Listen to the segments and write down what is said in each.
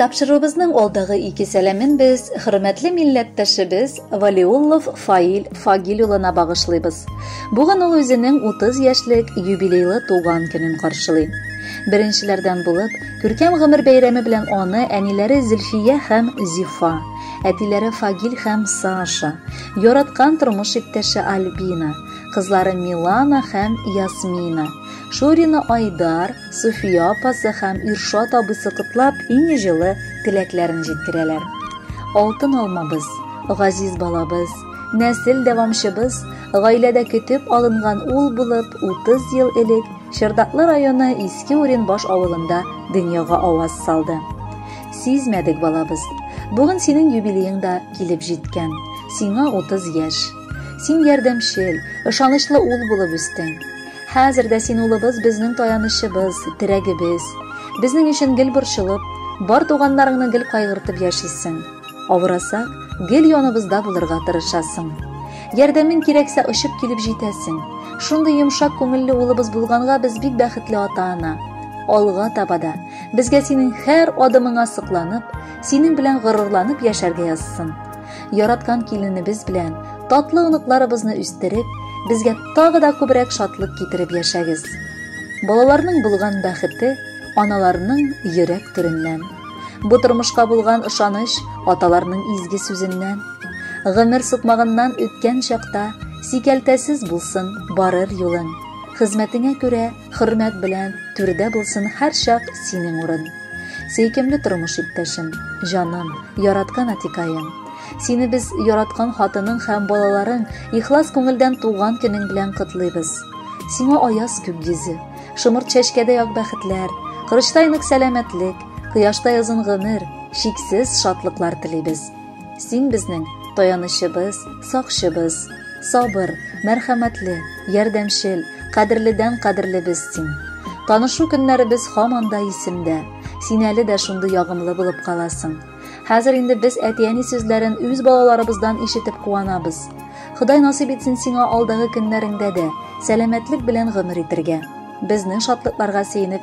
Тапшыруыбызның алдагы ике сәламен без хөрмәтле милләттәшебез Валиуллов Фаил Фагил улына багышлыйбыз. Бүген ул үзенең 30 яшьлек юбилейлы туган көнен каршылый. Беренчеләрдән булып, күркәм гомер бәйрәме белән аны әниләре Зөлфия һәм Зифа, әтиләре Фагил һәм Саша, яраткан тормыш иптәше Альбина, кызлары Милана һәм Ясмина, Шурина Айдар, Суфия апасы һәм Иршат абысы котлап, иң җылы теләкләрен җиткерәләр. Алтын алмабыз, газиз балабыз, нәсел дәвамчыбыз, гаиләдә көтеп алынган ул булып 30 ел элек Чердаклы районы Иске Уренбаш авылында дөньяга аваз салды. Сизмәдек балабыз. Бүген синең юбилеең да килеп җиткән. Сиңа 30 яшь. Син ярдәмчел, ышанычлы ул булып үстең. Хәзер дә син улыбыз безнең таянычыбыз, терәгебез. Безнең өчен гел борчылып, бар туганнарыңны гел кайгыртып яшисең. Авырасак, гел яныбызда булырга тырышасың. Ярдәмең кирәксә, очып килеп җитәсең. Шундый йомшак күңелле улыбыз булганга без бик бәхетле ата-ана. Алга таба да безгә синең һәр адымыңа сокланып, синең белән горурланып яшәргә язсын. яраткан киленебез белән татлы оныкларыбызны үстереп, безгә тагы да күбрәк шатлык китереп яшәгез. Балаларның булган бәхете аналарның йөрәк түреннән. Бу тормышка булган ышаныч аталарның изге сүзеннән. Гомер сукмагыннан үткән чакта сикәлтәсез булсын барыр юлың. Хезмәтеңә күрә Хөрмәт белән, түрдә булсын һәр чак синең урын. Сөйкемле тормыш иптәшем, җаным, яраткан атикаем. Сине без яраткан хатының һәм балаларың ихлас күңелдән туган көнең белән котлыйбыз. Сиңа аяз күк йөзе, шомырт чәчкәдәй ак бәхетләр, кырычтай нык сәламәтлек, кояштай озын гомер, чиксез шатлыклар телибез. Син безнең таянычыбыз, сакчыбыз, сабыр, мәрхәмәтле, ярдәмчел, кадерледән кадерлебез син. Танышу көннәребез һаман да исемдә. Син әле дә шундый ягымлы булып каласың. Хәзер инде без әти-әни сүзләрен үз балаларыбыздан ишетеп куанабыз. Ходай насыйп итсен сиңа алдагы көннәреңдә дә сәламәтлек белән гомер итергә. Безнең шатлыкларга сөенеп,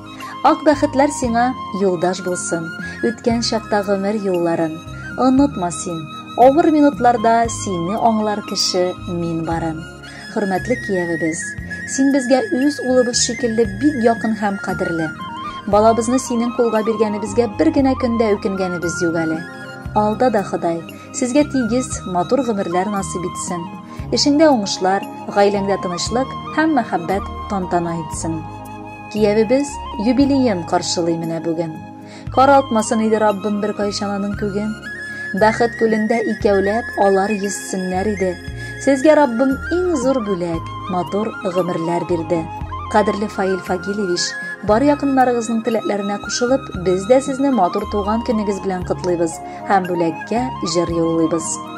Ак бәхетләр сиңа юлдаш булсын, үткән чакта гомер юлларын. Онытма син, авыр минутларда сине аңлар кеше мин барын. Хөрмәтле киявебез, син безгә үз улыбыз шикелле бик якын һәм кадерле. Балабызны синең кулга биргәнебезгә бер генә көндә үкенгәнебез юк әле. Алда да Ходай сезгә тигез, матур гомерләр насыйп итсен. Эшеңдә уңышлар, гаиләңдә тынычлык һәм мәхәббәт тантана итсен. Киявебез юбилеен каршылый менә бүген. Каралтмасын иде Раббым бер кайчан аның күген. Бәхет күлендә икәүләп алар йөзсеннәр иде. Сезгә Раббым иң зур бүләк, матур гомерләр бирде. Кадерле Фаил Фагилевич, бар якыннарыгызның теләкләренә кушылып, без дә сезне матур туган көнегез белән котлыйбыз һәм бүләккә җыр юллыйбыз.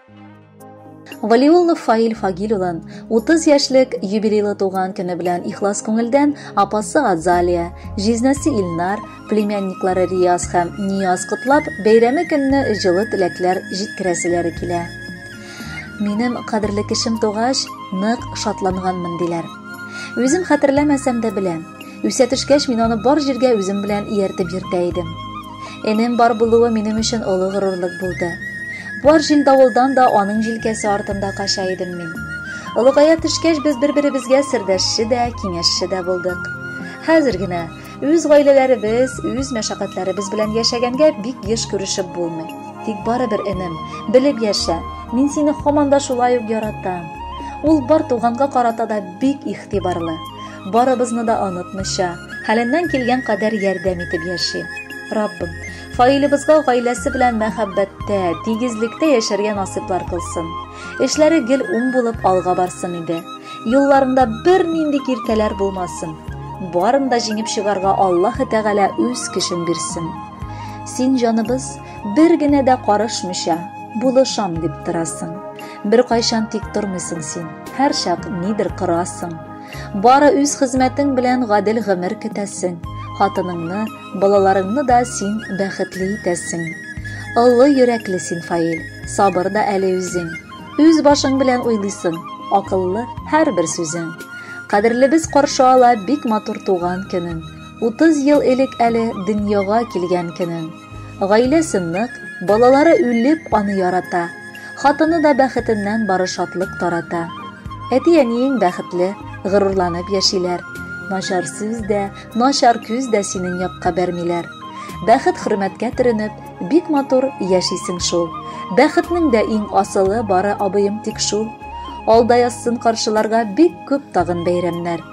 Валиуллов Фаил Фагил улын 30 яшьлек юбилейлы туган көне белән ихлас күңелдән апасы Азалия, җизнәсе Илнар, племянниклары Рияз һәм Нияз котлап, бәйрәме көнне җылы теләкләр җиткерәселәре килә. Минем кадерле кешем тугач, нык шатланганмын диләр. Үзем хәтерләмәсәм дә беләм. Үсә төшкәч, мин аны бар җиргә үзем белән ияртеп йөртә идем. Энем бар булуы минем өчен олы горурлык булды. Бар җил давылдан да аның җилкәсе артында кача идем мин. Олыгая төшкәч, без бер-беребезгә сердәшче дә, киңәшче дә булдык. Хәзер генә үз гаиләләребез, үз мәшәкатьләребез белән яшәгәнгә бик еш күрешеп булмый. Тик барыбер энем, белеп яшә, мин сине һаман да шулай ук яратам. Ул бар туганга карата да бик игътибарлы. барыбызны да онытмыйча, хәленнән килгән кадәр ярдәм итеп яши. Раббым, фаилебызга гаиләсе белән мәхәббәттә, тигезлектә яшәргә насыйплар кылсын. Эшләре гел уң булып алга барсын иде. Юлларында бернинди киртәләр булмасын. Барын да җиңеп чыгарга Аллаһ Тәгалә үз көчен бирсен. Син җаныбыз бер генә дә карышмыйча, булышам дип торасың. Бер кайчан тик тормыйсың син, һәр чак нидер корасың. Бары үз хезмәтең белән гадел гомер көтәсең. Хатыныңны, балаларыңны да син бәхетле итәсең. Олы йөрәкле син, Фаил, сабыр да әле үзең. Үз башың белән уйлыйсың, акыллы һәрбер сүзең. Кадерлебез каршы ала бик матур туган көнен. 30 ел элек әле дөньяга килгән көнен. Гаиләсе нык, балалары үлеп аны ярата. Хатыны да бәхетеннән бары шатлык тарата. Әти-әниең бәхетле, горурланып яшиләр. Начар сүз дә, начар күз дә синең якка бәрмиләр. Бәхет хөрмәткә төренеп, бик матур яшисең шул. Бәхетнең дә иң асылы бары абыем тик шул. Алда язсын каршыларга бик күп тагын бәйрәмнәр.